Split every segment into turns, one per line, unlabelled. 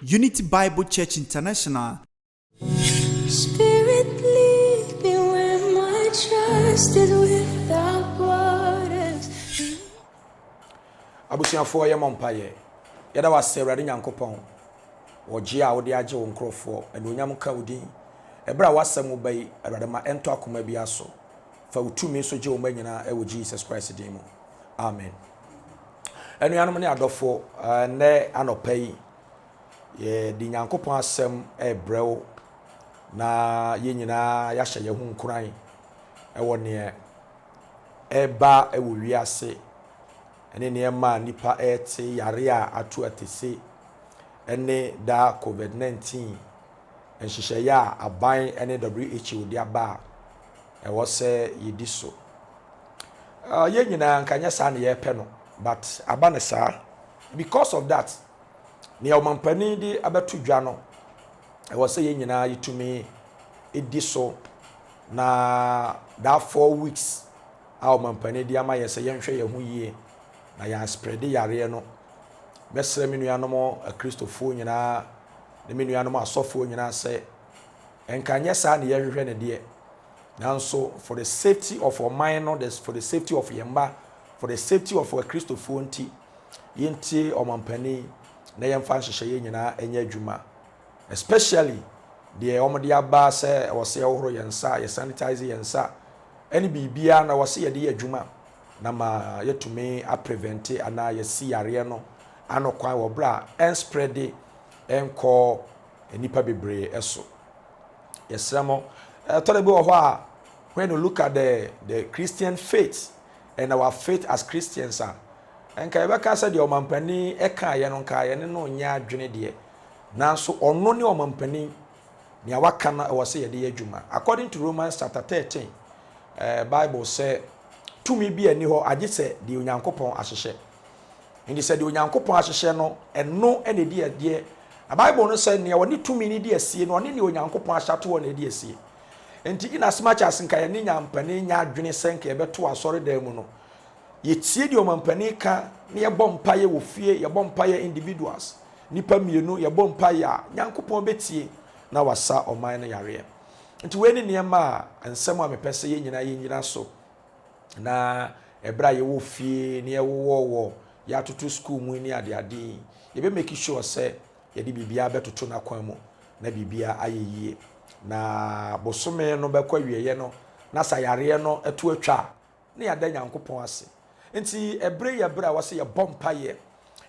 Unity Bible Church International. Spirit
lead me where my trust is without borders.
abusuafoɔ yɛ mɔ mpa yɛ yɛda wasɛ awurade nyankopɔn wɔgye a wode agye wo nkurɔfoɔ anuonyam nka wo din ɛberɛ a wasɛm wo ba yi awurade ma ɛntɔ akoma bia so fa wo tumi so gye wo ma nyinaa ɛwɔ jesus christ din mu amen Anuanom ne adɔfo, ɛnnɛ anɔpa yi, yɛde Nyankopɔn asɛm ɛrebrɛ wo na yɛn nyinaa yɛahyɛ yɛn ho nkuran ɛwɔ neɛ ɛreba ɛwɔ wiase ɛne nneɛma a nipa ɛrete yare a ato atese ɛne daa COVID-19 nhyehyɛeɛ a aban ɛne WHO de aba a ɛwɔ sɛ yɛdi so. Yɛn nyinaa nka nyɛ saa na yɛpɛ no but aba no saa. Because of that, nea ɔmampanin de abɛto dwa no, ɛwɔ sɛ yɛn nyinaa yɛtumi di so na that four weeks a ɔmampanin de ama yɛn sɛ yɛnhwɛ yɛn ho yie na yɛn asprɛde yareɛ no. Mɛsrɛ me nuanom akristofoɔ nyinaa ne me nuanom asɔfoɔ nyinaa sɛ Nka nyɛ saa na yɛhwehwɛ no deɛ, nanso for the safety of ɔman no, for the safety of yɛn mma, for the safety of Akristofoɔ nti, yɛntie ɔmampanin na yɛmfa nhyehyɛeɛ nyinaa nyɛ adwuma, especially deɛ wɔde aba sɛ ɛwɔ sɛ yɛhohoro yɛn nsa, yɛsanitize yɛn nsa, ɛne biribiara na ɛwɔ sɛ yɛde yɛ adwuma na ma yɛtumi aprevente anaa yɛasi yareɛ no ano kwan wɔ berɛ a ɛnspreade nkɔ nnipa bebree so. Yɛsrɛ mo, ɛtɔ da bi wɔ hɔ a, when you look at the, the Christian faith and our faith as Christians a, nka yɛbɛka sɛ deɛ ɔmampanin ɛka yɛ no nka yɛne no nyɛ adwene deɛ nanso ɔno ne ɔmampanin nea waka no ɛwɔ sɛ yɛde yɛ adwuma according to romans chapter 13 uh, bible sɛ tumi bi ani hɔ agye sɛ deɛ onyankopɔn ahyehyɛ Enti sɛ deɛ Onyankopɔn ahyehyɛ no, ɛno na ɛdi adeɛ. Na Bible no sɛ, Nea ɔne tumi no di asie no, ɔne nea Onyankopɔn ahyɛ ato hɔ na ɛdi asie. Enti in as much as nka yɛne nyampanin nyɛ adwene sɛ nka yɛbɛto asɔredan mu no, yɛtie deɛ ɔmampanin ka na yɛbɔ mpaeɛ wɔ fie, yɛbɔ mpaeɛ individuals, nnipa mmienu, yɛbɔ mpaeɛ a, Nyankopɔn bɛtie na wasa ɔman no yareɛ. Nti wei ne nneɛma a, nsɛm a mepɛ sɛ yɛn nyinaa yɛnyina so na ɛberɛ a yɛwɔ fie na yɛwowɔ wɔ yɛatoto sukuu mu ne adeade yi yɛbɛ make sure sɛ yɛde biribiara bɛtoto n'akwan mu na biribiara ayɛ yie na bosome no bɛkɔ awieɛ no na sɛ yareɛ no ɛto atwa a na yɛada nyankopɔn ase nti ɛberɛ yɛ berɛ a wɔsɛ yɛbɔ mpaeɛ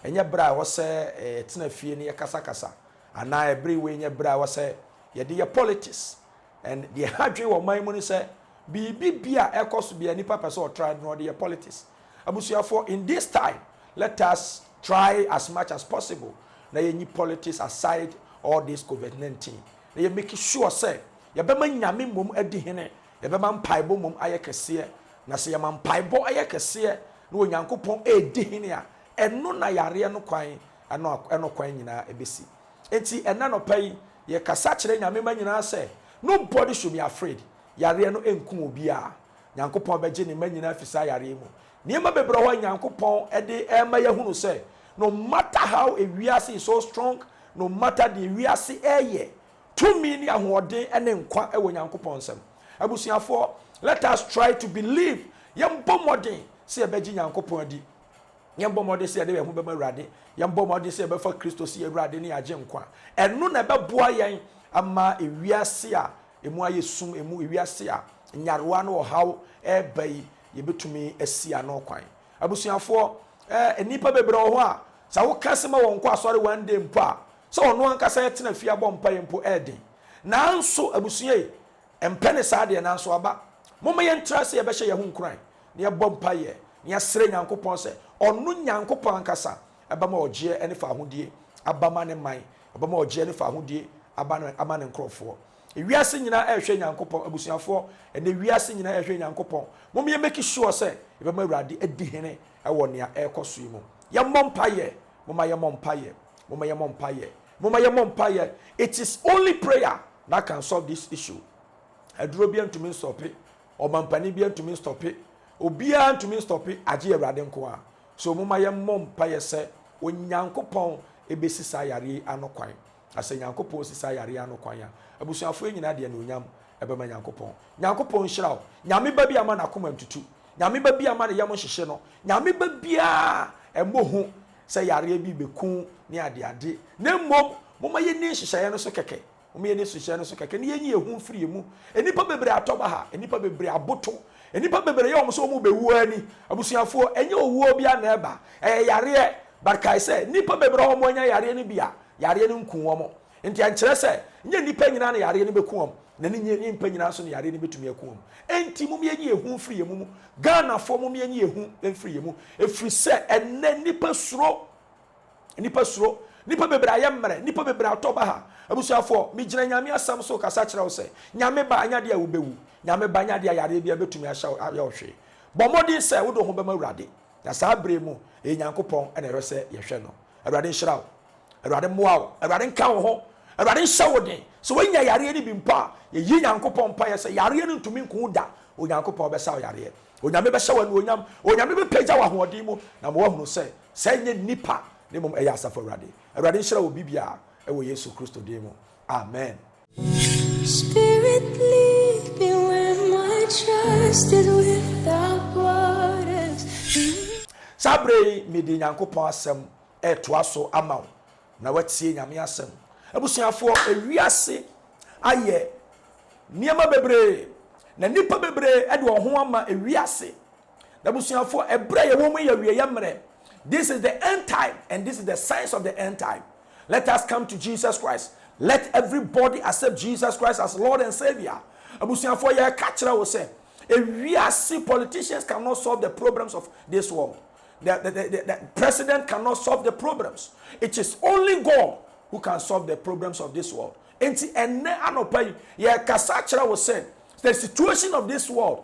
ɛnyɛ berɛ a wɔsɛ ɛtena fie ne yɛkasakasa anaa ɛberɛ wei nyɛ berɛ a wɔsɛ yɛde yɛ politics And deɛ ɛha adwene wɔ ɔman mu ne sɛ biribi bi a ɛkɔ so biara nipa pɛ sɛ ɔtra no na ɔde yɛ politics. Abusuafoɔ in this time let us try as much as possible na yɛnyi politics aside all this covid 19 na yɛ make sure sɛ yɛbɛma Nyame mmom adi hene, yɛbɛma mpaebɔ mmom ayɛ kɛseɛ na sɛ yɛma mpaebɔ yɛ kɛseɛ na Onyankopɔn ɛredi hene a ɛno na yareɛ no kwan ɛno ɛno kwan nyinaa ɛbɛsi. Enti ɛnnɛ anɔpa yi, yɛkasa kyerɛ Nyame mma nyinaa sɛ, Nobody should be afraid, yareɛ no nkum obiara. Nyankopɔn bɛgye Ne mma nyinaa afi saa yareɛ yi mu. Nneɛma bebree wɔ hɔ a Nyankopɔn de rema yɛahunu sɛ, no matter how ewiase is so strong, no matter deɛ wiase reyɛ, tumi ne ahoɔden ne nkwa wɔ Nyankopɔn nsam. Abusuafoɔ, let us try to believe, yɛmbɔ mmɔden sɛ yɛbɛgye Nyankopɔn adi. Yɛbɔ mmɔden sɛ yɛde yɛn ho bɛma Awurade. Yɛbɔ mmɔden sɛ yɛbɛfa Kristo sɛ yɛn Awurade ne yɛn Agyenkwa. Ɛno na ɛbɛboa yɛn ama wiase a emu ayɛ sum, emu wiase a nyarewa ne ɔhaw reba yi, yɛbɛtumi asi ano kwan. Abusuafoɔ, eh, nnipa bebree wɔ hɔ a, sɛ woka sɛ ma wɔnkɔ asɔre one day mpo a, sɛ ɔno ankasa tena fie abɔ mpaeɛ mpo ɛyɛ den. Nanso abusua yi, Ɛmpɛ ne saa deɛ, nanso aba. Momma yɛntra ase yɛbɛhyɛ yɛn ho nkuran, na yɛbɔ mpaeɛ, na yɛasrɛ Nyankopɔn sɛ Ɔno, Nyankopɔn ankasa, bɛma ɔgyeɛ ne fahodie aba ma Ne man, ɔbɛma ɔgyeɛ ne fahodie aba no ama Ne nkorɔfoɔ. Ewiase nyinaa ɛrehwɛ Nyankopɔn, abusuafoɔ, ɛnnɛ wiase nyinaa ɛrehwɛ Nyankopɔn. Momma yɛ make sure sɛ yɛbɛma Awurade adi hene wɔ nea ɛrekɔ so yi mu. Yɛmmɔ mpaeɛ, momma yɛmmɔ mpaeɛ, momma yɛmmɔ mpaeɛ. Momma yɛmmɔ mpaeɛ, it is only prayer that can solve this issue. Aduro biara ntumi nstɔpe, ɔmampanin biara ntumi nstɔpe, obiara ntumi nstɔpe agye Awurade nko ara. So momma yɛmmɔ mpaeɛ sɛ Onyankopɔn bɛsi saa yareɛ yi ano kwan. Na sɛ Nyankopɔn si saa yareɛ yi ano kwan a, abusuafoɔ yi nyinaa de anuonyam bɛma Nyankopɔn. Nyankopɔn nhyira wo. Nyame ba bi amma n'akoma ntutu. Nyame ba bi amma ne yam nhyehye no. Nyame ba biara mmɔ hu sɛ yareɛ bi rebɛku ne adeade, na mmom momma yɛnni nhyehyɛeɛ no so kɛkɛ, momma yɛnni nhyehyɛeɛ no so kɛkɛ, na yɛnyi yɛn ho mfiri emu. Nnipa bebree atɔ baha, nnipa bebree aboto, nnipa bebree yɛ wɔn sɛ wɔrebɛwu ara ni. Abusuafoɔ, ɛnyɛ owuo biara na ɛba, ɛyɛ yareɛ, but kae sɛ, nnipa bebree a wɔanya yareɛ no bi a, yareɛ no nkuu wɔn. Enti ɛnkyerɛ sɛ nyɛ nnipa nyinaa na yareɛ no bɛku wɔn, na ne nyɛ nyɛmpa nyinaa nso na yareɛ no bɛtumi aku wɔn. Enti mom yɛnyi yɛn ho mfiri yɛn mu mu. Ghanafoɔ mom yɛnyi yɛn ho mfiri yɛn mu. Ɛfiri sɛ ɛnnɛ nnipa suro. Nnipa suro. Nnipa bebree ayɛ mmerɛ. Nnipa bebree atɔ baha. Abusuafoɔ, megyina Nyame asɛm so rekasa kyerɛ wo sɛ, Nyame ba, ɛnyɛ adeɛ a wobɛwu. Nyame ba, ɛnyɛ adeɛ a yareɛ biara bɛtumi ahyɛ wo, ayɛ wo hwee. Bɔ mmɔden sɛ wode wo ho bɛma Awurade. Na saa bere yi mu, ɛyɛ Nyankopɔn na ɛsɛ sɛ yɛhwɛ no. Awurade nhyira wo. Awurade mmoa wo. Awurade nka wo ho. Awurade nhyɛ wo den. Sɛ woanya yareɛ no bi mpo a, yɛyi Nyankopɔn mpaeɛ sɛ yareɛ no ntumi nku wo da. Onyankopɔn bɛsa wo yareɛ. Onyame bɛhyɛ wo anuonyam. Onyame bɛpagya wo ahoɔden mu na ama woahunu sɛ, sɛɛ nyɛ nnipa na mmom ɛyɛ Asafo Awurade. Awurade nhyira wo biribiara wɔ Yesu Kristo din mu. Amen.
Spirit lead me where my trust is without borders.
Saa berɛ yi mede Nyankopɔn asɛm retoa so ama wo na woatie Nyame asɛm. Abusuafoɔ, ewiase ayɛ nneɛma bebree na nnipa bebree de wɔn ho ama ewiase M'abusuafoɔ, ɛberɛ a yɛwɔ mu yi yɛ awieɛ mmerɛ. This is the end time and this is the signs of the end time. Let us come to Jesus Christ. Let everybody accept Jesus Christ as Lord and Saviour. Abusuafoɔ, yɛreka kyerɛ wo sɛ, ewiase politicians cannot solve the problems of this world. The, the, the, the president cannot solve the problems. It is only God who can solve the problems of this world. Enti ɛnɛ anɔpa yi, yɛkasa kyerɛ wo sɛ, the situation of this world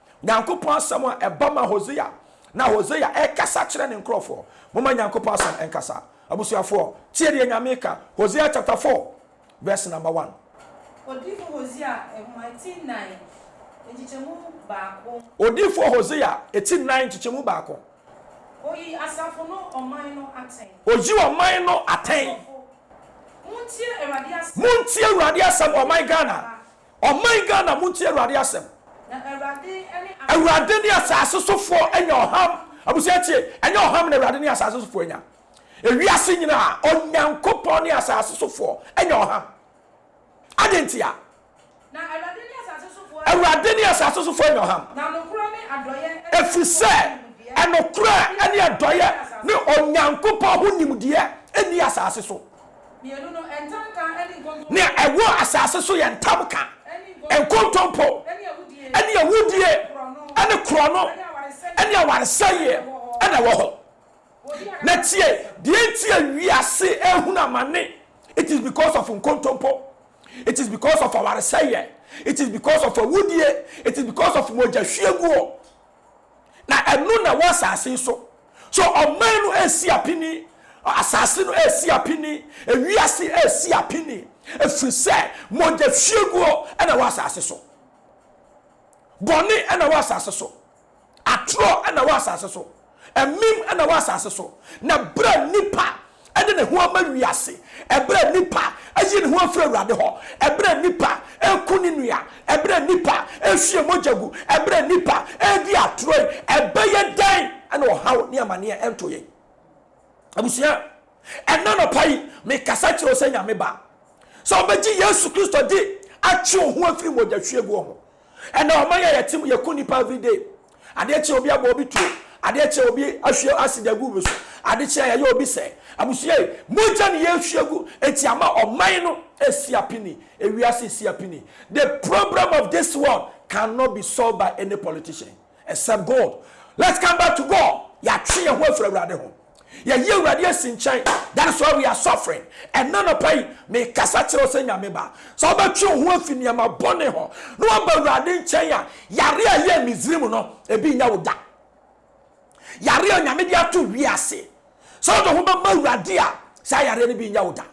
Nyankopɔn asɛm a ɛba ma Hosea, na Hosea ɛkasa kyerɛ ne nkorɔfoɔ. Momma Nyankopɔn asɛm nkasa. Abusuafoɔ, tie deɛ Nyame reka, Hosea chapter four, verse number
one. Odiyifoɔ Hosea
Nwoma Ti Nnan, Nkyekyɛmu Baako. Odiyifoɔ
Hosea Ti Nnan, Nkyekyɛmu Baako. Oyi asafo no ɔman no atɛn. Oyi
ɔman no atɛn. Asɔfo, montie Awurade asɛm. Montie Awurade asɛm, ɔman Ghana. Ɔman Ghana montie Awurade asɛm. Awurade ne asase so foɔ anya ɔham. Abusua tie, ɛnyɛ ɔham na Awurade ne asase so foɔ anya. Ewiase nyinaa, Onyankopɔn ne asase so foɔ anya ɔham. Adɛn ntia?
Awurade
ne asase so foɔ anya ɔham.
Ɛfiri sɛ,
ɛnokorɛ ne adɔeɛ ne Onyankopɔn ho nimdeɛ nni asase so.
Mmienu no, ntamka ne nkontompo. Nea ɛwɔ asase
so yɛ ntamka, nkontompo ne awudie ne korɔno ne awaresɛeɛ na ɛwɔ hɔ. Na tie, deɛ enti a wiase rehunu amane, it is because of nkontompo, it is because of awaresɛeɛ, it is because of awudie, it is because of mogyahwieguo. Na ɛno na ɛwɔ asase yi so. So ɔman no resi apini? Asase no resi apini? Ewiase resi apini? Ɛfiri sɛ mogya hwieguo na ɛwɔ asase so. Bɔne na ɛwɔ asase so. Atorɔ na ɛwɔ asase so. Ɛmem na ɛwɔ asase so. Na berɛ a nnipa de ne ho ama wiase, ɛberɛ a nnipa ayi ne ho afiri Awurade hɔ, ɛberɛ a nnipa reku ne nua, ɛberɛ a nnipa rehwie mogya gu, ɛberɛ a nnipa redi atorɔ yi, ɛbɛyɛ dɛn na ɔhaw ne amaneɛ nto yɛn? Abusua, ɛnnɛ anɔpa yi, mekasa kyerɛ wo sɛ Nyame Ba, sɛ wobɛgye Yesu Kristo di atwe wo ho afiri mogyahwieguo ho, Ɛnɛ ɔman yi a yɛte mu yɛku nnipa everyday. Adeɛ kye a obi abɔ obi tuo, adeɛ kye a obi ahwie acid agu obi so, ade kye a yɛayɛ obi sɛɛ. Abusua yi, mogya na yɛrehwie agu enti ama ɔman no resi apini, ewiase resi apini. The problem of this world can not be solved by any politician except God. Let's come back to God, yɛatwe yɛn ho afiri Awurade ho. Yɛyi Awurade asi nkyɛn. That is why we are suffering. Ɛnnɛ anɔpa yi, mekasa kyerɛ wo sɛ Nyame ba, sɛ wobɛtwe wo ho afi nneɛma bɔne ho na woaba Awurade nkyɛn a, yare a ɛyɛɛ Misraim no, ebi nyɛ wo da. Yare a Nyame de ato wiase, sɛ wode wo ho bɛma Awurade a, saa yareɛ no bi nyɛ wo da.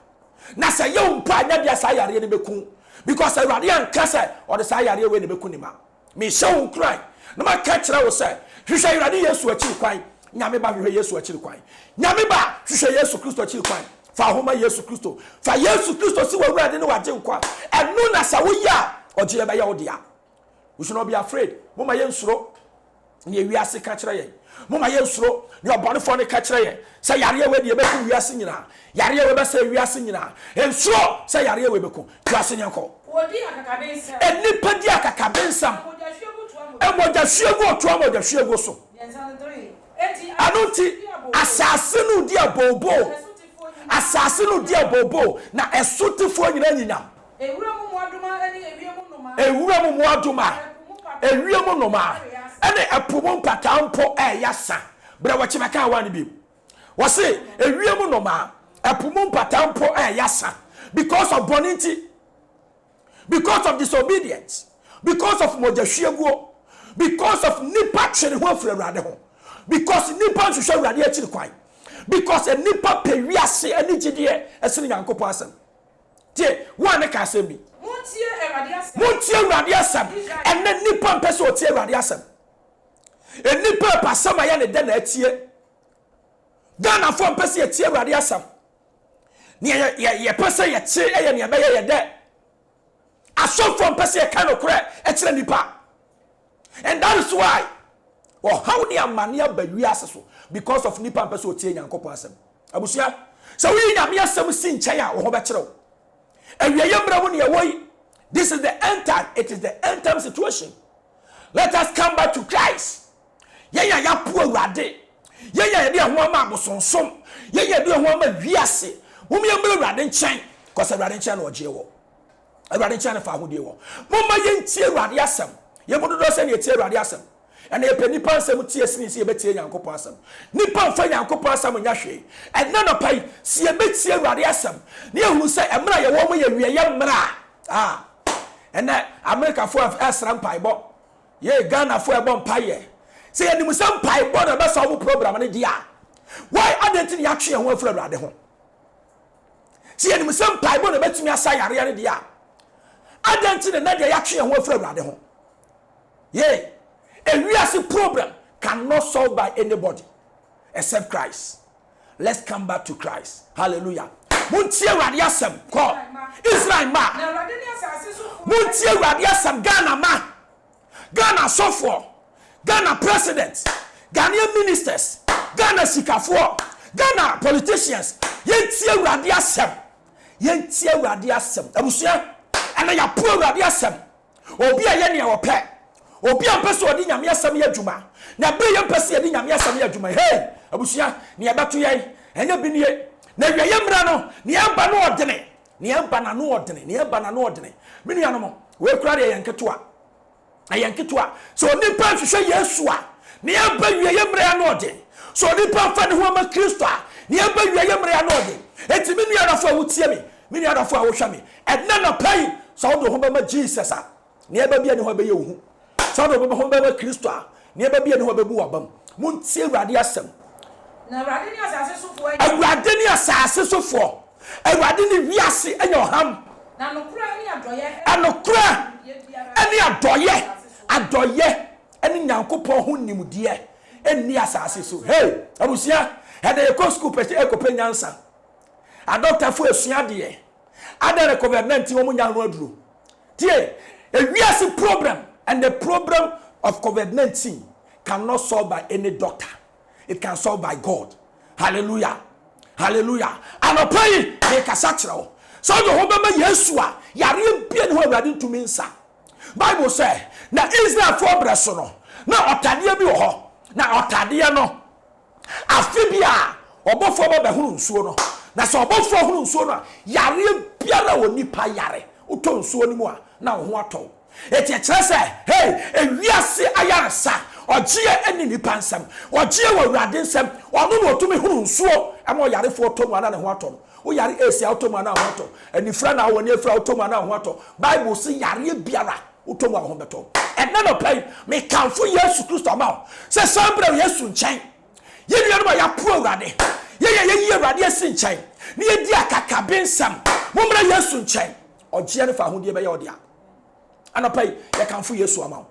Na sɛ ɛyɛ wo mpo a, nyɛ deɛ saa yareɛ no bɛku wo, because Awurade anka sɛ ɔde saa yareɛ wei na ɛbɛku ne mma. Mehyɛ wo nkuran na maka kyerɛ wo sɛ, hwehwɛ Awurade Yesu akyiri kwan. Nyame ba, hwehwɛ Yesu akyiri kwan. Nyame ba, hwehwɛ Yesu Kristo akyiri kwan. Fa wo ho ma Yesu Kristo. Fa Yesu Kristo si w'Awurade ne w'Agyenkwa. Ɛno na sɛ woyɛ a, ɔgyeɛ bɛyɛ wo dea. We should not be afraid. Momma yɛnsuro. nea wiase ka kyerɛ yɛn. Momma yɛnsuro nea ɔbɔnefoɔ no ka kyerɛ yɛn, sɛ yareɛ wei deɛ ɛbɛku wiase nyinaa, yareɛ wei bɛsɛe wiase nyinaa. Nsuro sɛ yareɛ wei bɛku wiase nyinaa kɔ. Wɔdi akakabensɛm.
Nnipa di
akakabensɛm. Na mogyahwie gu toa mogya. Mogyahwie gu ɔtoa mogyahwie gu so. Mmiɛnsa no dere. Enti Ɛno asase nti, no di abooboo. asase no di abooboo. Na ɛsotefoɔ nyinaa. Asase no di abooboo, na ɛsotefoɔ nyinaa nyinyam. Ewura mu mmoadoma
ɛne ewiem nnomaa. Ewura mu mmoadoma,
ewiem nnomaa ɛne ɛpo mu mpataa mpo ɛɛyɛ asa. Brɛ wɔ kye bɛka awaa no bi mu. Wɔse ewiem nnomaa, ɛpo mu mpataa mpo ɛɛyɛ asa because of bɔne nti, because of disobedience, because of mogya hwieguo, because of nipa twe ne ho afiri Awurade ho, because nipa nhwehwɛ Awurade akyiri kwan, because nipa pɛ wiase ɛne gyidie ɛsene Nyankopɔn asɛm. Tie! Wo a na ka asɛm bi. Montie Awurade asɛm. Montie Awurade asɛm. Ɛnnɛ nnipa mpɛ sɛ wɔtie Awurade asɛm. Nnipa repɛ asɛm a ɛyɛ ne dɛ na atie. Ghanafoɔ mpɛ sɛ yɛtie Awurade asɛm. Nea yɛpɛ sɛ yɛte yɛ nea ɛbɛyɛ yɛ dɛ. Asɔfoɔ mpɛ sɛ yɛka nokorɛ kyerɛ nnipa. And that is why ɔhaw ne amane aba wiase so because of nipa mpɛ sɛ ɔtie Nyankopɔn asɛm. Abusua, sɛ woyi Nyame asɛm si nkyɛn a wo ho bɛkyerɛ wo. Awieɛ mmerɛ mu ne yɛwɔ yi, this is the end time, it is the end time situation. Let us come back to Christ. Yɛn a yɛapo Awurade, yɛn a yɛde yɛn ho ama abosonsom, yɛn a yɛde yɛn ho ama wiase, mom yɛmmra Awurade nkyɛn, cause Awurade nkyɛn na ɔgyeɛ wɔ. Awurade nkyɛn na fa ahodie wɔ. Momma yɛntie Awurade asɛm. Yɛn mu dodoɔ sɛ na yɛtie Awurade asɛm. Ɛna yɛpɛ nnipa nsɛm tie sene sɛ yɛbɛtie Nyankopɔn asɛm. Nnipa mfa Nyankopɔn asɛm nyɛ hwee. Ɛnnɛ anɔpa yi, sɛ yɛbɛtie Awurade asɛm, na yɛahunu sɛ mmerɛ a yɛwɔ mu yɛ awieɛ mmerɛ a, ah, ɛnɛ Amerikafoɔ ɛsrɛ mpaebɔ, yei Ghanafoɔ ɛbɔ mpaeɛ. Sɛ yɛnim sɛ mpaebɔ na ɛbɛsa wɔn program no deɛ a, why adɛn nti na yɛatwe yɛn ho afiri Awurade ho? Sɛ yɛnim sɛ mpaebɔ na ɛbɛtumi asa yareɛ no deɛ a, adɛn nti na ɛnnɛ deɛ yɛatwe yɛn ho afiri Awurade ho? Yei, ewiase problem cannot solve by anybody except Christ. Let's come back to Christ. Hallelujah. Montie Awurade asɛm kɔ Israel ma. Montie Awurade asɛm Ghana ma. Ghana asɔfoɔ, Ghana president, Ghanaian ministers, Ghana sikafoɔ, Ghana politicians, yɛntie Awurade asɛm. Yɛntie Awurade asɛm. Abusua, ɛnɛ yɛapo Awurade asɛm. Obi a ɛyɛ nea ɔpɛ. Obi a mpɛ sɛ ɔde Nyame asɛm yɛ adwuma. Na ɛberɛ yɛn mpɛ sɛ yɛde Nyame asɛm yɛ adwuma, hei, abusua, nea ɛbɛto yɛn, ɛnyɛ bi nie. N'awieeɛ mmerɛ no, nea ɛba no ɔdene. Nea ɛba n'ano ɔdene, nea ɛba n'ano ɔdene. Me nuanom, wei koraa deɛ ɛyɛ nketewa. Ɛyɛ nketewa. Sɛ onipa nhwehwɛ Yesu a, nea ɛba awieeɛ mmerɛ ano ɔden. Sɛ onipa mfa ne ho amma Kristo a, nea ɛba awieeɛ mmerɛ ano ɔden. Enti me nua dɔfoɔ a wotie me, me nua dɔfoɔ a wohwɛ me, ɛnnɛ anɔpa yi, sɛ wode wo ho bɛma Jesus a, Nneɛma bi a ɛne hɔ bɛyɛ wo hu. Saa na wɔbɛma hɔ bɛma Kristo a, nneɛma bi a ɛne hɔ bɛbu w'abam. Montie Awurade asɛm. Na Awurade
ne asase sofoɔ anya. Awurade ne asase
sofoɔ. Awurade ne wiase anya ɔham. Na nokorɛ
ne adɔeɛ. Anokorɛ
ne adɔeɛ. Adɔeɛ ne Nyankopɔn ho nimdeɛ nni asase so. Hey! Abusua, ɛnɛ yɛkɔ sukuu pɛ sɛ ɛkɔpɛ nyansa. Adɔktafoɔ ɛsua adeɛ. Adɛn na covid 19 wɔn nyaa ho aduro? Tie, ewiase problem and the problem of covid 19 can not solve by any doctor it can solve by God hallelujah hallelujah anɔpa yi mekasa kyerɛ wo sɛ ɔde ho bɛma Yesu a yareɛ bie ne ho awurade ntumi nsa Bible sɛ na Israelfoɔ brɛ so no na ɔtadeɛ bi wɔ hɔ na ɔtadeɛ no Afe biara, ɔbɔfoɔ ba bɛhono nsuo no, na sɛ ɔbɔfoɔ hono nsuo no a, yareɛ biara a onipa yare, wotɔ nsuo no mu a, na wo ho atɔ wo. Enti ɛkyerɛ sɛ, hei, ewiase ayaresa, ɔgyeɛ nni nnipa nsam, ɔgyeɛ wɔ Awurade nsam, ɔno na ɔtumi hono nsuo ma ɔyarefoɔ tɔ mu a na ne ho atɔ no. Woyare ace a, wotɔ mu a na wo ho atɔ, anifira na wowɔ, na afira a wotɔ mu a na wo ho atɔ. Bible se yareɛ biara. Wotɔ mu a, wo ho bɛtɔ wo. Ɛnnɛ anɔpa yi, mekamfo Yesu Kristo ma wo sɛ san bra Yesu nkyɛn. Yɛn nuanom a yɛapo Awurade, yɛn a yɛayi Awurade asi nkyɛn, na yɛdi akakabensɛm, mommra Yesu nkyɛn. Ɔgyeɛ no fa ahodeɛ bɛyɛ wo dea. Anɔpa yi, yɛkamfo Yesu ama wo.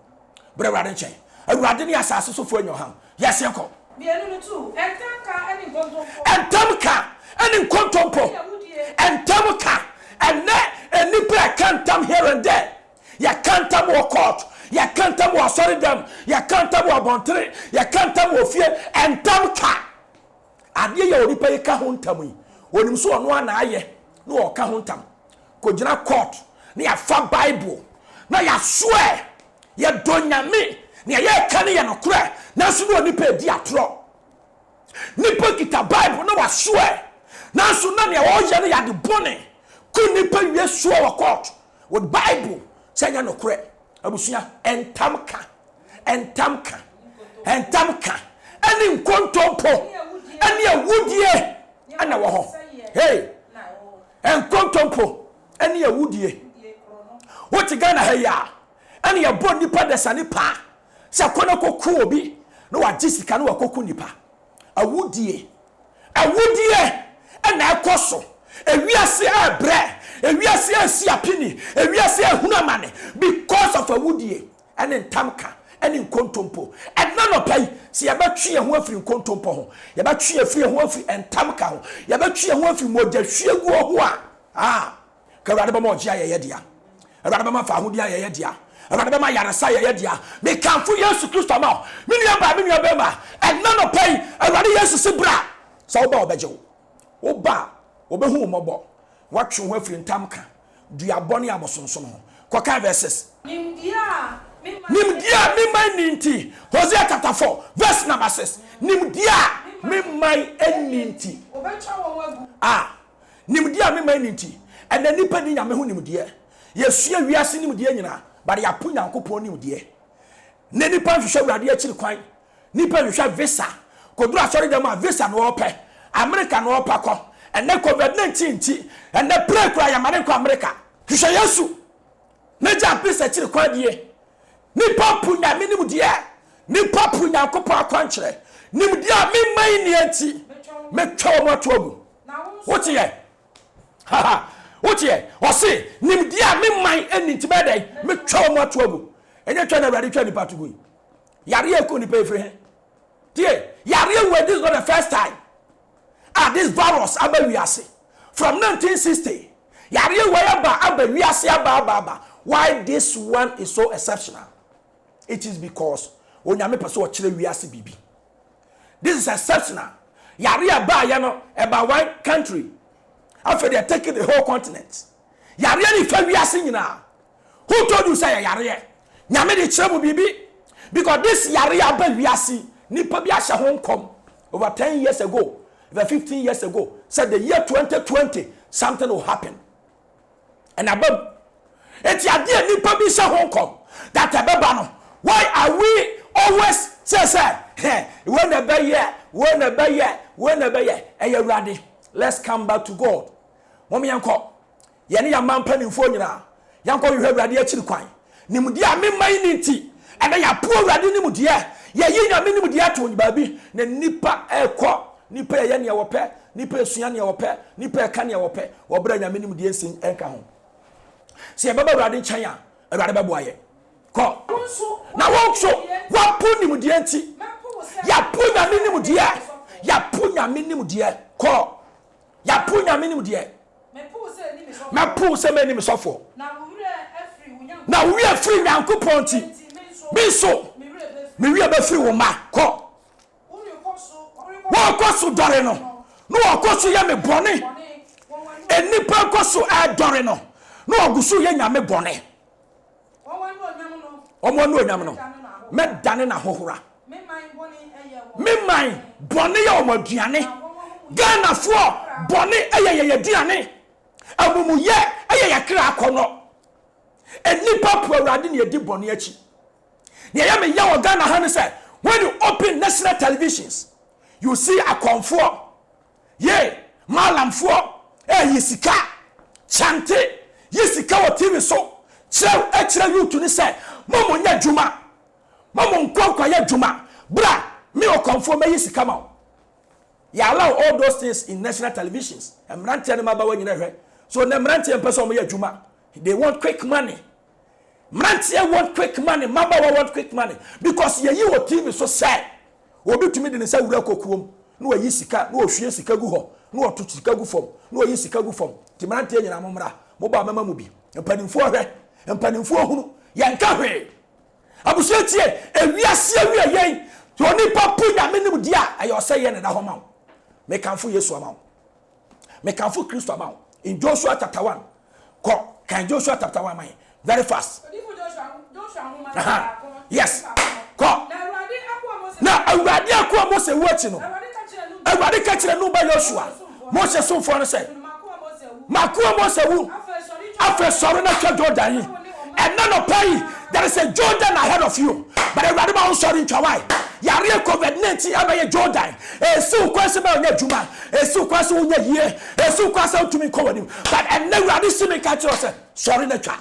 Bra Awurade nkyɛn. Awurade ne asase sofoɔ nyɛ ɔhaw. Yes, yɛnkɔ. Mmienu no tu.
Ɛntam ka ne nkontompo. Ɛntam ka
ne nkontompo. Ɛne awudie. Ɛntam ka. Ɛnnɛ nnipa reka ntam here and there. Yɛka ntam wɔ court. Yɛka ntam wɔ asɔredam. Yɛka ntam wɔ abɔntene. Yɛka ntam wɔ fie. Ɛntam ka. Adeɛ yi a onipa yi ka ho ntam yi, ɔnim sɛ ɔno ara na ayɛ na ɔreka ho ntam. Kɔgyina court na yɛafa Bible na yɛasoɛ. Yɛdɔ Nyame. Deɛ yɛreka no yɛ nokorɛ. Nanso na onipa yi redi atorɔ. Nipa kita Bible na wasoɛ. Nanso na deɛ ɔreyɛ no yɛ ade bɔne. Kɔ nipa wie soɛ wɔ court with Bible sɛ ɛnyɛ nokorɛ. Abusua, ntam ka, ntam ka, ntam ka, ɛne nkontompo, ɛne awudie ɛna wɔ hɔ. Hey, nkontompo, ɛne awudie. Wote Ghana ha yi a, ɛne yɛbɔ nipa dasani paa sɛ kɔ na kɔku obi na wagye sika na wakɔku nipa. Awudie, awudie na ɛkɔ so. Ewiase rebrɛ, ewiase resi apini, ewiase rehunu amane because of awudie ne ntamka ne nkontompo. Ɛnnɛ anɔpa yi, sɛ yɛbɛtwe yɛn ho afiri nkontompo ho, yɛbɛtwe yɛn afiri yɛn ho afiri ntamka ho, yɛbɛtwe yɛn ho afiri mogyahwieguo ho a, ah, Ka Awurade bɛma ɔgye ayɛ yɛ dea. Awurade bɛma faahodi ayɛ yɛ dea. Awurade bɛma ayaresa ayɛ yɛ dea. Mekamfo Yesu Kristo ama wo, me nuabaa, me nuabarima. Ɛnnɛ anɔpa yi, Awurade Yesu se bra. Sɛ woba a, ɔbɛgye wo. Woba a, ɔbɛhu wo mmɔbɔ. Watwe wo ho afiri ntamka, duabɔ ne abosonsom ho. Kɔkan verses.
Nimdeɛ a me man
nni. Nimdeɛ a me man nni nti. Hosea chapter four verse number six. Nimdeɛ a me man nni nti. Wɔbɛtwa
wɔn agu. Ah! Nimdeɛ
a mema ni nti, ɛnnɛ nnipa nni Nyame ho nimdeɛ. Yɛasua wiase nimdeɛ nyinaa, but yɛapo Nyankopɔn nimdeɛ. Nnɛ nnipa nhwehwɛ Awurade akyiri kwan. Nnipa nhwehwɛ visa. Kɔduru asɔredɛm a, visa na ɔɔpɛ. Amerika na ɔɔpɛ akɔ. Ɛnnɛ covid 19 nti, ɛnnɛ plane koraa yɛmma no nkɔ Amerika. Hwehwɛ Yesu! N'agya pe sɛ kyere kwan nie. Nipa po Nyame nimdeɛ, nipa po Nyankopɔn akwankyerɛ. Nimdeɛ a me man nni nti, mɛtwa wɔn ato agu. Woteɛ? Haha, woteɛ? Ɔse, nimdeɛ a me man nni nti mɛyɛ dɛn? Mɛtwa wɔn ato agu. Ɛnyɛ twa na Awurade twa nipa ato gu yi. Yareɛ ɛkɔ nipa ɛfiri he? Tie, yareɛ wei this is not the first time. a this virus aba wiase from nineteen sixty yareɛ wei aba aba wiase aba aba aba why this one is so exceptional it is because onyame pɛ sɛ ɔkyerɛ wiase biribi this is exceptional yareɛ a ɛbaayɛ no ɛba one country afei deɛ take the whole continent. Yareɛ no fa wiase nyinaa. Who told you sɛ yɛ yareɛ? Nyame de kyerɛ mo biribi because this yareɛ aba wiase yi nipa bi ahyɛ ho nkɔm over ten years ago, over fifteen years ago sɛ the year twenty twenty something will happen and aba mu. Enti adeɛ a nipa bi hyɛ ho nkɔm that ɛbɛba no why are we always say sɛ hɛ wei na ɛbɛyɛ, wei na ɛbɛyɛ, wei na ɛbɛyɛ? Ɛyɛ Awurade. Let's come back to God. Mom yɛnkɔ, yɛne yɛn man mpanimfoɔ nyinaa, yɛnkɔhwehwɛ Awurade akyiri kwan. Nimdeɛ a me man nni nti, ɛnnɛ yɛapo Awurade nimdeɛ, yɛayi Nyame nimdeɛ ato baabi, na nnipa rekɔ, nnipa reyɛ nea wɔpɛ, nnipa resua nea wɔpɛ, nnipa reka nea wɔpɛ, wɔ berɛ a Nyame nimdeɛ nsi nka ho. Sɛ yɛbɛba Awurade nkyɛn a, Awurade bɛboa yɛn. Kɔ, na wo nso woapo nimdeɛ nti, yɛapo Nyame nimdeɛ, yɛapo Nyame nimdeɛ. Kɔ. Yapo Nyame nim deɛ. Mɛpow sɛ mɛni me sɔfoɔ. Na wo werɛ firi Nyankopɔn nti. Me nso me werɛ bɛfiri wo mma. Kɔ. Wɔkɔ so dɔre no. Na wɔkɔ so yɛ me bɔne. Nnipa kɔ so ɛdɔre no. Na wɔgu so yɛ Nyame bɔne. Wɔn anuonyam no, mɛdane n'ahohora. Me man bɔne yɛ wɔn aduane. Ghanafoɔ bɔne yɛ yɛn aduane. Amumuyɛ yɛ yɛn kra akɔnnɔ. Nnipa po Awurade na yɛdi bɔne akyi. Nea ɛyɛ me yɛ wɔ Ghana ha ne sɛ, when you open national televisions, you see akɔmfoɔ Yei Mallamfoɔ reyi sika. Kyante yi sika wɔ TV so kyerɛ kyerɛ youth no sɛ mo mo nyɛ adwuma, mo mo nkɔ nkɔ yɛ adwuma, bra me Ɔkɔmfoɔ mɛyi sika ma wo. Yɛ allow all those things in national televisions, mmeranteɛ no mmabaawa nyina hwɛ. So nnɛ mmeranteɛ mpɛ sɛ wɔyɛ adwuma, they want quick money. Mmeranteɛ want quick money, mmabaawa want quick money because yɛyi wɔ TV so sɛ obi tumi de ne nsa wura kokoɔ mu na wayi sika, na ɔhwie sika gu hɔ, na ɔto sika gu fam, na ɔyi sika gu fam. Nti mmeranteɛ nyinaa mommra, mo ba a mɛma mo bi. Mpanimfoɔ hwɛ, mpanimfoɔ hunu, yɛnka hwee. Abusua tie, ewiase awia yɛn, sɛ onipa po Nyame nimdeɛ a, ɛyɛ ɔsɛeɛ na ɛda hɔ ma wo. Mekamfo Yesu ama wo. Mekamfo Kristo ama wo in Joshua chapter one. Kɔ kan Joshua chapter one ma yɛn very fast. Odiyifo Joshua Joshua nwoma no baako no. Yes. Kɔ. Na Awurade akoa Mose. Na Awurade akoa Mose wu akyi no. Awurade ka kyerɛ Nun ba Yosua, Mose somfoɔ no sɛ. M'akoa Mose awu. Afei sɔre na twa Jordan yi. Ɛnɛ nɔpa yi there is a Jordan ahead of you but awurade ma wo nsɔre ntwa wae yareɛ covid 19 abɛyɛ Jordan ɛsi wo kwan sɛ bɛyɛ ɔnyɛ adwuma ɛsi wo kwan sɛ wonyɛ yie ɛsi wo kwan sɛ wotumi nkɔ w'anim but ɛnɛ awurade si me nka kyerɛ sɛ sɔre na twa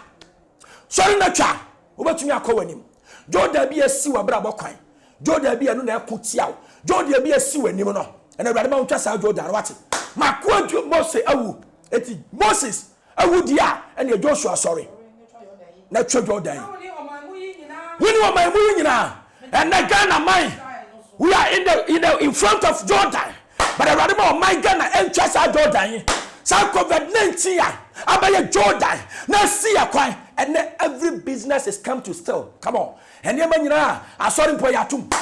sɔre na twa wobɛtumi akɔ w'anim Jordan bi ɛsi w'abrabɔ kwan Jordan bi ɛno na ɛko tia wo Jordan bi ɛsi w'anim no ɛnɛ awurade ma wo ntwa saa Jordan wate makoa Mose awu eti Moses Wo deɛ a, ɛneɛ Joshua sɔre na twa Jordan yi. Wo ne ɔman mu yi nyinaa. Ɛnɛ Ghana man, we are in the, in the in front of Jordan. But Awurade ma ɔman Ghana ɛntwa saa Jordan yi. Saa COVID-19 a abɛyɛ Jordan na asi yɛ kwan. Ɛnɛ every business is come to still. Come on. Ɛnneɛma nyinaa asɔre mpo yɛatom.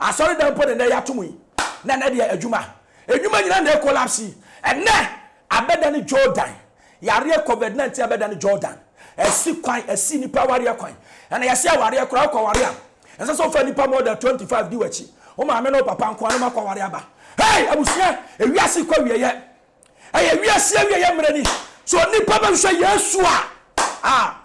Asɔre dan mpo na ɛnɛ yɛatom yi. Na ɛnɛ deɛ adwuma. Adwuma nyinaa na ɛkolapse yi. Ɛnɛ Abɛdane Jordan, Yareɛ covid 19 abɛdane Jordan, ɛsi kwan, ɛsi nnipa awareɛ kwan, ɛna yɛse awareɛ koraa wokɔ ware a, ɛnsɛ sɛ wofa nnipa more than 25 di wakyi, wo maame ne wo papa nkoa na moakɔ ware aba. Hey! Abusua, ewiase kɔ awieɛ, ɛyɛ wiase awieɛ mmerɛ ni, sɛ onipa bɛhwehwɛ Yesu a, ah!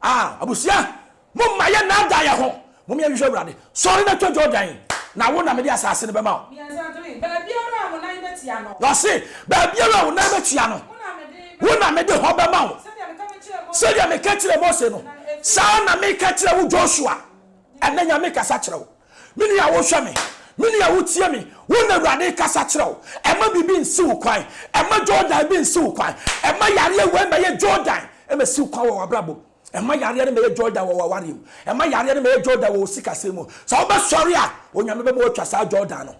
Ah, abusua, momma yɛnnaadaa yɛn ho. Mom yɛnhwehwɛ Awurade. Sɔre na twa Jordan, na wo na mede asase no bɛma wo. Mmiɛnsa, three, baabiara
a wo nan bɛtia no. Na ɔse, baabiara
a wo nan bɛtia no, wo na mede hɔ bɛma wo. Sɛdeɛ meka kyerɛɛ Mose no, saa na meka kyerɛ wo Joshua. Ɛnnɛ Nyame kasa kyerɛ wo. Me nua wohwɛ me, me nua wotie me, wo na Awurade rekasa kyerɛ wo. Ɛmma biribi nsi wo kwan, ɛmma Jordan bi nsi wo kwan, ɛmma yareɛ wei mmɛyɛ Jordan mmɛsi wo kwan wɔ w'abrabɔ mu, ɛmma yareɛ no mmɛyɛ Jordan wɔ w'awareɛ mu, ɛmma yareɛ no mmɛyɛ Jordan wɔ wo sikasɛm mu. Sɛ wobɛsɔre a, Onyame bɛma woatwa saa Jordan no.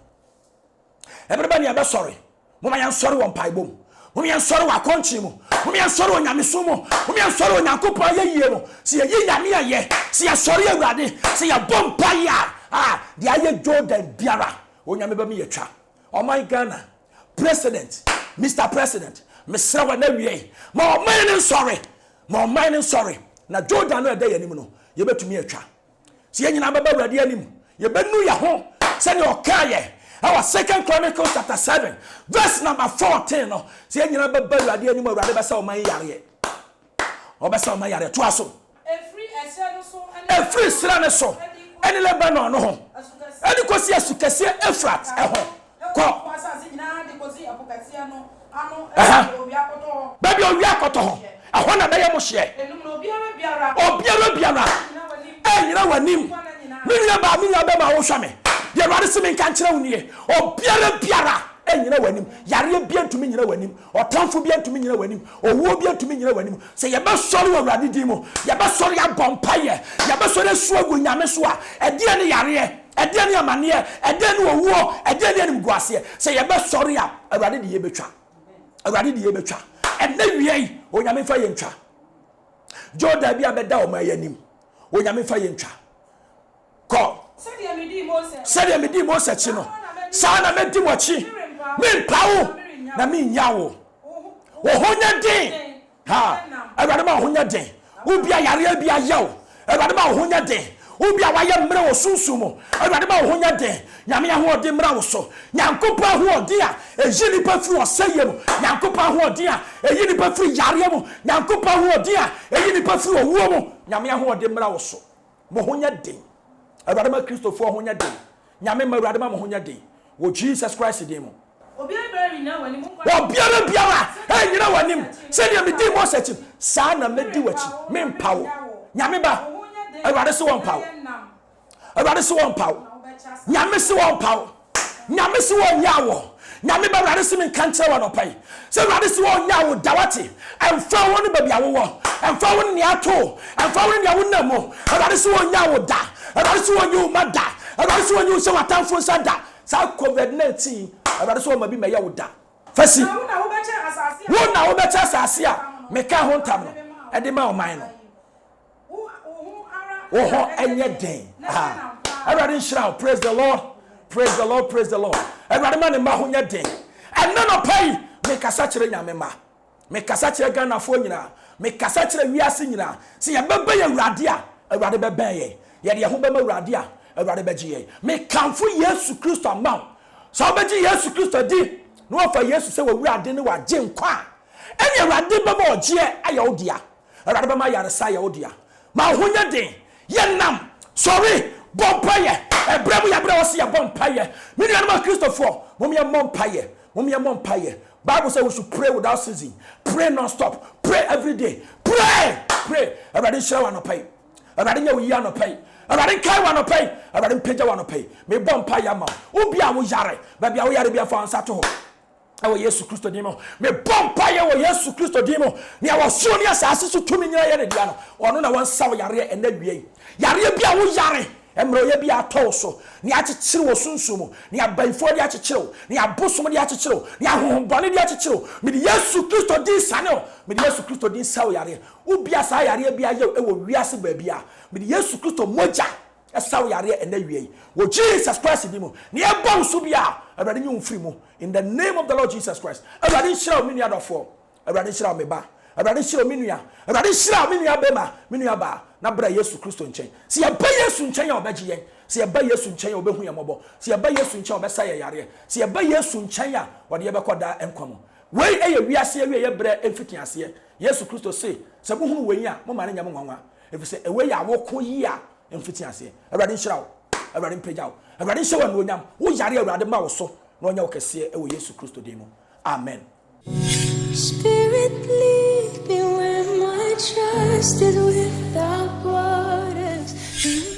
Ɛbere bɛn na yɛbɛsɔre? Momma yɛnsɔre wɔ mpaebɔ mu. Momma yɛnsɔre wɔ akɔnkye mu. Momma yɛnsɔre wɔ nyamesom mu. Momma yɛnsɔre wɔ Onyankopɔn ayɛyie mu. Sɛ yɛyi Nyame ayɛ, sɛ yɛsɔre Awurade, sɛ yɛbɔ mpaeɛ a, ah, deɛ ayɛ Jordan biara, Onyame bɛma yɛatwa. Ɔman Ghana, President, Mister President, mesrɛ wo ɛnnɛ awiei, ma ɔman no nsɔre, ma ɔman no nsɔre, na Jordan no a ɛda yɛn anim no, yɛbɛtumi atwa. sɛ yɛn nyinaa bɛba awurade anim yɛbɛnu yɛ ho sɛdeɛ ɔkaa yɛ ɛwɔ second chronicles chapter 7 verse number 14 no sɛ yɛn nyinaa bɛba awurade anim awurade bɛsɛ ɔma yareɛ ɔbɛsɛ ɔma yareɛ toa so ɛfiri serɛ no so ɛne lebanon no ho ɛne kɔsi asu kɛseɛ efrat ɛho Kɔ. Ɛhã. Baabi a owia kɔtɔ hɔ, ɛhɔ na ɛbɛyɛ mo hyeɛ. Obiara biara renyina w'anim. Me nuabaa, me nuabɛma a worehwɛ me, deɛ Awurade se menka nkyerɛ wo nie, obiara biara renyina w'anim. Yareɛ biara ntumi nnyina w'anim. Ɔtamfo biara ntumi nnyina w'anim. Owuo biara ntumi nnyina w'anim. Sɛ yɛbɛsɔre wɔ Awurade din mu, yɛbɛsɔre abɔ mpaeɛ, yɛbɛsɔre asu agu Nyame so a, ɛdeɛn ne yareɛ? Ɛdeɛn ne amaneɛ? Ɛdeɛn ne owuo? Ɛdeɛn ne animguaseɛ? Sɛ yɛbɛsɔre a, Awurade de yei bɛtwa. Awurade de yei bɛtwa. Ɛnnɛ wia yi, Onyame mfa yei ntwa. Jordan bi a bɛda ɔman yi anim, Onyame mfa yei ntwa. Kɔ. Sɛdeɛ medii Mose akyi no. Sɛdeɛ medii Mose akyi no. Saa na mɛdi mo akyi. Merempa wo. Na merennya wo. Wo ho nyɛ den. Ha! Awurade ma wo ho nyɛ den. Wo bi a yareɛ bi ayɛ wo, Awurade ma wo ho nyɛ den. Wo bi a wayɛ mmerɛ wɔ sunsum mu, Awurade ma wo ho nyɛ den. Nyame ahoɔden mmra wo so. Nyankopɔn ahoɔden a ɛyi nipa firi ɔsɛeɛ mu, Nyankopɔn ahoɔden a ɛyi nipa firi yareɛ mu, Nyankopɔn ahoɔden a ɛyi nipa firi owuo mu, Nyame ahoɔden mmra wo so. Mo ho nyɛ den. Awurade ma Kristofoɔ ho nyɛ den. Nyame mma awurade ma mo ho nyɛ den wɔ Jesus Christ din mu. Obiara biara
nyina wɔ anim nkɔ na kɔyɛ Obiara biara
sɛdeɛ nyina wɔ Mose anim akyi no sɛdeɛ me dii Mose akyi no saa na me di wɔ akyi me mpa wo Nyame ba awurade se wɔ mpa wo awurade se wɔ mpa wo Nyame se wɔ mpa wo Nyame se wɔ nyaa wɔ Nyame ba Awurade se me nka nkyerɛ wo anɔpa yi sɛ Awurade se ɔnyaa wo da wate ɛmfa wo ne baabi a wowɔ ɛmfa wo ne nea ato wo ɛmfa wo ne nea wonam mu Awurade se ɔnyaa wo da Awurade se ɔnyi wo ma da Awurade se ɔnyi wo hyɛ w'atamfo nsa da saa covid 19 Awurade se ɔma bi mɛyɛ wo da fa si wo na wobɛkyɛ asase a meka ho ntam no de ma ɔman no. wo hɔ ɛnyɛ den awurade nhyira wo praise the lord praise the lord praise the lord awurade ma ne mma ho nyɛ den ɛnna nɔpa yi mekasa kyerɛ nyame ma mekasa kyerɛ ghanafoɔ nyinaa mekasa kyerɛ wiase nyinaa sɛ yɛbɛbɛ yɛ awurade a awurade bɛbɛn yɛn yɛde yɛn ho bɛma awurade a awurade bɛgye yɛn mekamfo yesu kristo ama wo sɛ wobɛgye yesu kristo di na wɔfa yesu sɛ wɔwurade ne wɔagye nkwa a ɛne awurade bɛma ɔgyeɛ ayɛ wo dea Awurade bɛma ayaresa ayɛ wo dea. Ma wo ho nyɛ den. Yɛ nnam. Sɔre. Bɔ mpaeɛ. Ɛberɛ mu yɛ berɛ a ɛwɔ sɛ yɛbɔ mpaeɛ. Me nuanom Akristofoɔ, mom yɛmmɔ mpaeɛ. Mom yɛmmɔ mpaeɛ. Bible sɛ we should pray without ceasing. Pray non-stop. Pray everyday. Pray! Pray! Awurade nhyira wo anɔpa yi. Awurade nyɛ wo yie anɔpa yi. Awurade nkae wo anɔpa yi. Awurade mpagya wo anɔpa yi. Mebɔ mpaeɛ ma wo. Wo bi a woyare, baabi a woyare biara fa wo nsa to hɔ. Ɛwɔ Yesu Kristo din mu, mebɔ mpaeɛ wɔ Yesu Kristo din mu, nea ɔsoro ne asase so tumi nyinaa yɛ ne dea no, ɔno na ɔnsa wo yareɛ ɛnnɛ awia yi. Yareɛ bi a woyare, mmerɛwyɛ bi a atɔ wo so, nea akyekyere wo sunsum mu, nea abayifoɔ de akyekyere wo, nea abosom de akyekyere wo, nea ahonhommɔne de akyekyere wo, mede Yesu Kristo din sane wo, mede Yesu Kristo din sa wo yareɛ. Wo bi a saa yareɛ bi ayɛ wo wɔ wiase baabiara, mede Yesu Kristo mogya saw yareɛ ɛnɛ awia yi wɔ Jesus Christ din mu na yɛbɔ wo so biara Awurade nyi wo mfiri mu in the name of the Lord Jesus Christ Awurade nhyira wo me nua dɔfoɔ Awurade nhyira wo me ba Awurade nhyira wo me nua Awurade nhyira wo me nua bɛma me nua baa na bra Yesu Kristo nkyɛn sɛ yɛba Yesu nkyɛn a ɔbɛgye yɛn sɛ yɛba Yesu nkyɛn a ɔbɛhu yɛn mmɔbɔ sɛ yɛba Yesu nkyɛn a ɔbɛsa yɛn yareɛ sɛ yɛba Yesu nkyɛn a ɔde yɛbɛkɔ daa nkwa mu wei yɛ wiase awieɛ berɛ mfitiaseɛ Yesu Kristo se sɛ mohunu wei a momma no nyɛ mo nwanwa Efisɛ ɛwɔ yɛ a woko yi a mfiti aseɛ. Awurade nhyira wo. Awurade mpagya wo. Awurade nhyɛ wo anuonyam. Wo yare Awurade ma wo so na ɔnyɛ wo kɛseɛ wɔ Yesu Kristo din mu. Amen.
Spirit lead me where my trust is without borders.